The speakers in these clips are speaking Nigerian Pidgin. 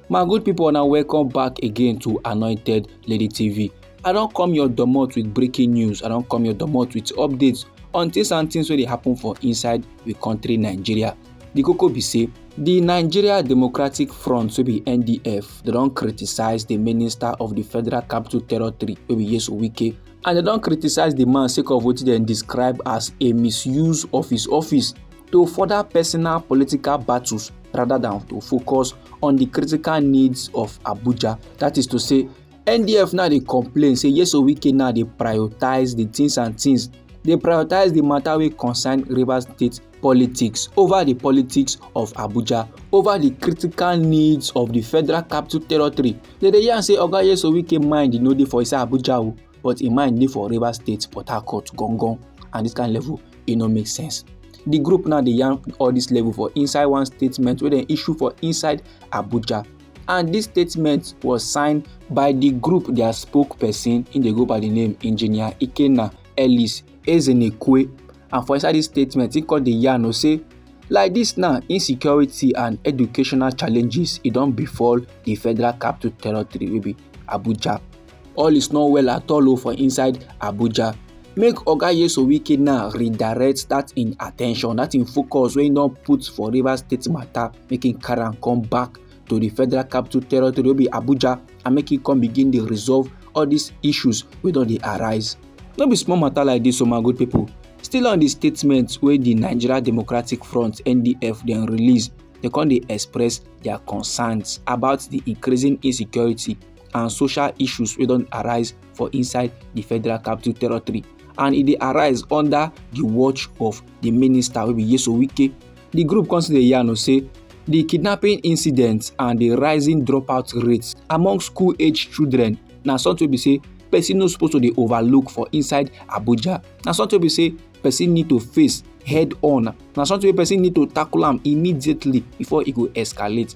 my good people now welcome back again to anointed lady tv i don't come your domot with breaking news i don't come your domot with updates on things and things wey dey happen for inside the country nigeria the koko be say the nigeria democratic front wey be ndf they don't criticize the minister of the federal capital territory wey be yesu wike and they don't criticize the man sake of wetin dem describe as a misuse of his office to further personal political battles rather than to focus on the critical needs of Abuja. That is to say, NDF now they complain say yes Owike now they prioritize the things and things. They prioritize the matter wey concern River State politics over the politics of Abuja, over the critical needs of the federal capital territory. They dey yarn say Oga Yes Owike mind e no dey for inside Abuja o, but im mind dey for River State, Port Harcourt, Gongon and this kind level. e no make sense di group now dey yarn all dis level for inside one statement wey dem issue for inside abuja and dis statement was signed by di group dia spokesperson im dey go by di name engineer ikenna ellis ezenekwe and for inside dis statement im come dey yarn o say like dis now insecurity and educational challenges e don befall di federal capital territory wey be abuja All is not well at all oh, for inside Abuja. Make Oga Yeso Wike now redirect that in attention, that in focus wey don put for Rivers State matter, make im carry am come back to the federal capital territory wey be Abuja and make im come begin dey resolve all these issues wey don dey arise. No be small matter like this, o oh my good people. Still on the statement wey the Nigeria Democratic Front (NDF) dem release, dem come dey express their concerns about the increasing insecurity and social issues wey don arise for inside di federal capital territory and e dey arise under di watch of di minister wey be yeso wike di group come still dey yarn o say di kidnapping incidents and di rising dropout rates among school age children na something wey be say person no suppose to dey overlook for inside abuja na something wey be say person need to face head on na something wey person need to tackle am immediately before e go escalate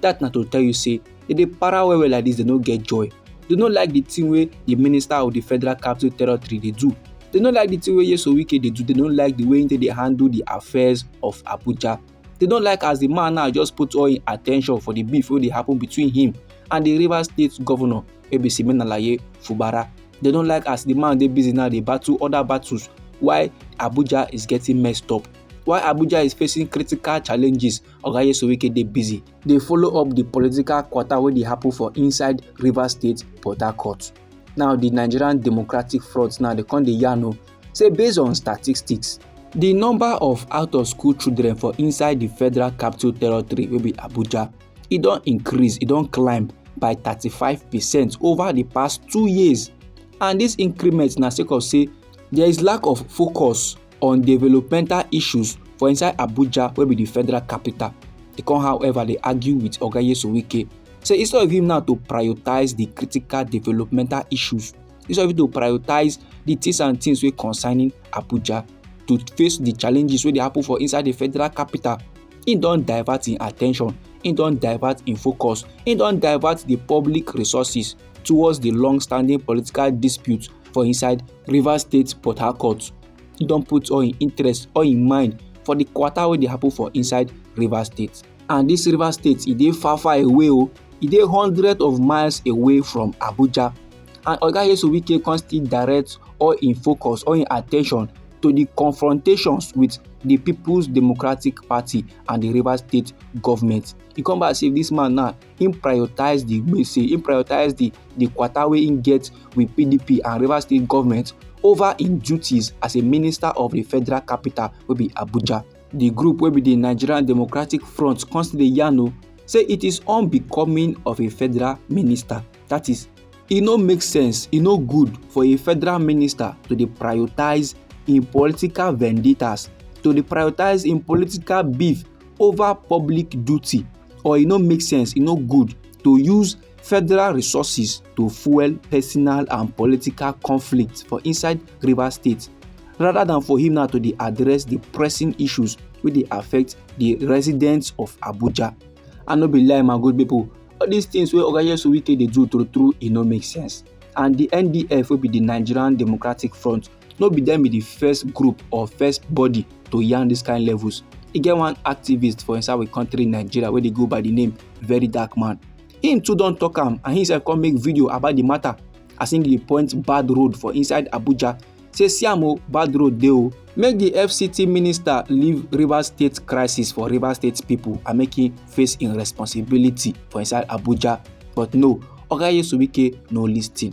that na to tell you say they dey para well well like this they no get joy they no like the thing wey the minister of the federal capital territory dey do they no like the thing wey yeso wike dey do they no like the way he dey handle the affairs of abuja they no like as the man now just put all him attention for the beef wey dey happen between him and the rivers state governor ebisi menalaye fubara they no like as the man dey busy now dey battle other battles why abuja is getting messed up why abuja is facing critical challenges oga yesuwike dey busy dey follow up di political kwata wey dey happen for inside rivers state port harcourt now di nigerian democratic front now dey come dey yarn o say based on statistics di number of out of school children for inside di federal capital territory wey be abuja e don increase e don climb by 35 percent over di past two years and dis increment na sake of say there is lack of focus on developmental issues for inside abuja wey be di federal capital e come however dey argue wit oga nyesom wike say instead of him now to prioritise di critical developmental issues instead of him to prioritise di things and things wey concerning abuja to face di challenges wey dey happen for inside di federal capital him don divert him attention him don divert him focus him don divert di public resources towards di long standing political dispute for inside rivers state port harcourt don put all im interest all im mind for di quarter wey dey happen for inside rivers state and dis rivers state e dey far far away o e dey hundreds of miles away from abuja and oga yesu wike come still direct all im focus all im attention to di confrontations wit di peoples democratic party and di rivers state government e come back say dis man now him prioritize the gbese him prioritize the the kwata wey him get with pdp and rivers state government over im duties as a minister of di federal capital wey be abuja di group wey be di nigerian democratic front come still dey yarn o say it is unbecoming of a federal minister that is e no make sense e no good for a federal minister to dey prioritise im political vendettas to dey prioritise im political beef over public duty. or e no make sense e no good to use federal resources to fuel personal and political conflict for inside rivers state rather than for him now to dey address the pressing issues wey dey affect the residents of abuja i no be lie my good people all these things wey oga yesu wike dey do true true e no make sense and the ndf wey be the nigerian democratic front no be dem be the first group or first body to yarn this kind levels e get one activist for inside we country nigeria wey dey go by the name very dark man him too don talk am and he sef come make video about the matter as him dey point bad road for inside abuja say see am o bad road dey o make the fct minister leave rivers state crisis for rivers state people and make him face him responsibility for inside abuja but no oga yesu wike no lis ten.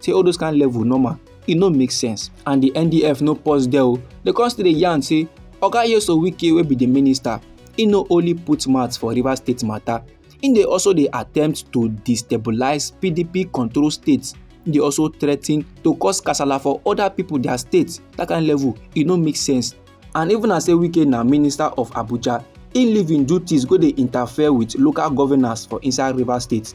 say all those kind level normal e no make sense and di ndf no pause there o dem come still dey yarn say oga yeso wike wey be di minister e no only put mouth for rivers state matter e dey also dey attempt to destabilise pdp control states e dey also threaten to cause kasala for oda pipo dia states dat kind level e no make sense and even as say wike na minister of abuja e leave im duties go dey interfere wit local governors for inside rivers state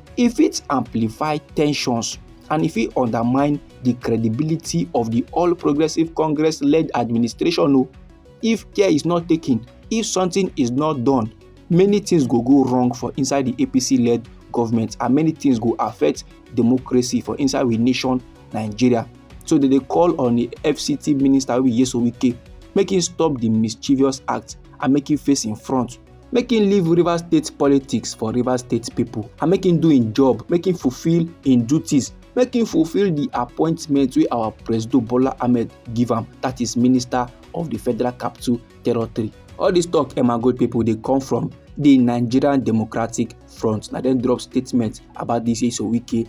e fit amplify tensions and e fit undermine di credibility of di all progressives congress led administration o if care is not taken if something is not done many things go go wrong for inside di apc led government and many things go affect democracy for inside we nation nigeria so they dey call on di fct minister wey be yeso wike make im stop di mischievous act and make im face im front make him leave rivers state politics for rivers state pipo and make him do him job make him fulfil him duties make him fulfil di appointment wey our president bola ahmed give am that is minister of di federal capital territory all dis tok emagold pipo dey come from di nigerian democratic front na dem drop statement about dis isowike